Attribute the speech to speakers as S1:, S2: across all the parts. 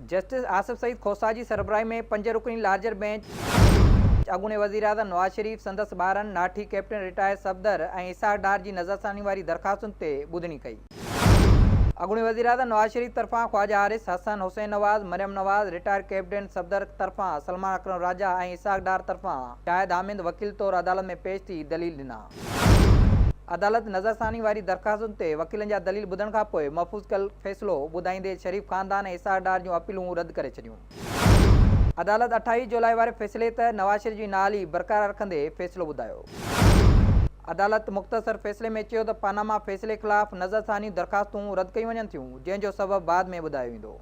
S1: Justice Asif Saeed Khosa جي سربراهي ۾ پنج رڪني لارجر بينچ اڳوڻي وزيراعظم نواز شريف، سندس ٻارن، ناٺي ڪئپٽن رٽائرڊ صفدر ۽ اسحاق ڊار جي نظرثاني واري درخواستن تي ٻڌڻي ڪئي. اڳوڻي وزيراعظم نواز شريف طرفان خواجه حارث، حسن حسين نواز، مريم نواز، رٽائرڊ ڪئپٽن صفدر طرفان سلمان اڪرم راجا ۽ اسحاق ڊار طرفان شاهد حامد وڪيل طور عدالت ۾ پيش ٿي دليل ڏنا. عدالت نظرثاني واري درخواستن تي وڪيلن جا دليل ٻڌڻ کانپوء محفوظ ڪيل فيصلو ٻڌائيندي شريف خاندان ۽ اسحاق ڊار جون اپيلون رد ڪري ڇڏيون. عدالت اٺائيس جولاء واري فيصلي تحت نواز شريف جي نااهلي برقرار رکندي فيصلو ٻڌايو. عدالت مختصر فيصلي ۾ چيو ته پاناما فيصلي خلاف نظرثاني درخواستون رد ڪيون وڃن ٿيون، جنهن جو سبب بعد ۾ ٻڌايو ويندو.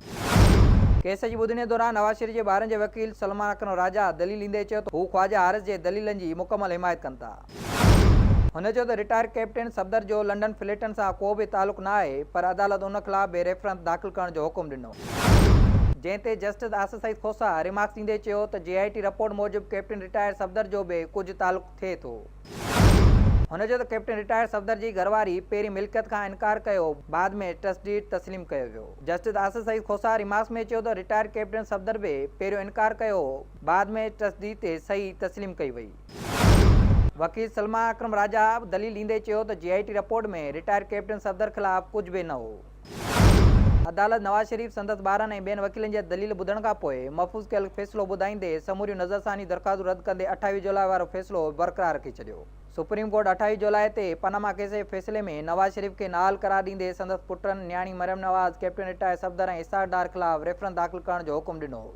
S1: ڪيس جي ٻڌڻي دوران نواز شريف جي ٻارن جي وڪيل سلمان اڪرم راجا دليل ڏيندي چيو ته هو خواجه حارث جي دليلن جي مڪمل حمايت ڪن ٿا. هن چيو ته رٽائرڊ ڪئپٽن صفدر جو لنڊن فليٽن سان ڪو به تعلق نه آهي پر عدالت ان خلاف به ريفرنس داخل ڪرڻ جو حڪم ڏنو، جنهن تي جسٽس آصف سعيد کوسا ريمارڪس ڏيندي چيو ته جي آء ٽي رپورٽ موجب ڪئپٽن رٽائرڊ صفدر جو به ڪجهه تعلق ٿئي ٿو. هن چيو ته ڪئپٽن رٽائرڊ صفدر جي گهر واري پهرين ملڪيت کان انڪار ڪيو هو، بعد ۾ ٽرسٽ ڊيڊ تسليم ڪيو ويو. جسٽس آصف سعيد کوسا ريمارڪس ۾ چيو ته رٽائرڊ ڪئپٽن صفدر به پهريون انڪار ڪيو هو، بعد ۾ ٽرسٽ ڊيڊ تي صحيح تسليم ڪئي وئي. وڪيل سلميٰ اڪرم راجا به دليل ڏيندي چيو ته J I T report ۾ retired captain Safdar خلاف ڪجهه به نه هو. عدالت نواز شريف، سندس ٻارن ۽ ٻين وڪيلن جي دليل ٻڌڻ کان پوء محفوظ ڪيل فيصلو ٻڌائيندي سموريون نظرثاني درخواستون رد ڪندي اٺاويهه جولاء وارو فيصلو برقرار رکي ڇڏيو. سپريم ڪورٽ اٺاويهه جولاء تي پاناما ڪيس جي فيصلي ۾ نواز شريف کي نااهل قرار ڏيندي سندس پٽن، نياڻي مريم نواز، ڪيپٽن رٽائرڊ صفدر ۽ اسحاق ڊار خلاف ريفرنس داخل ڪرڻ جو حڪم ڏنو هو.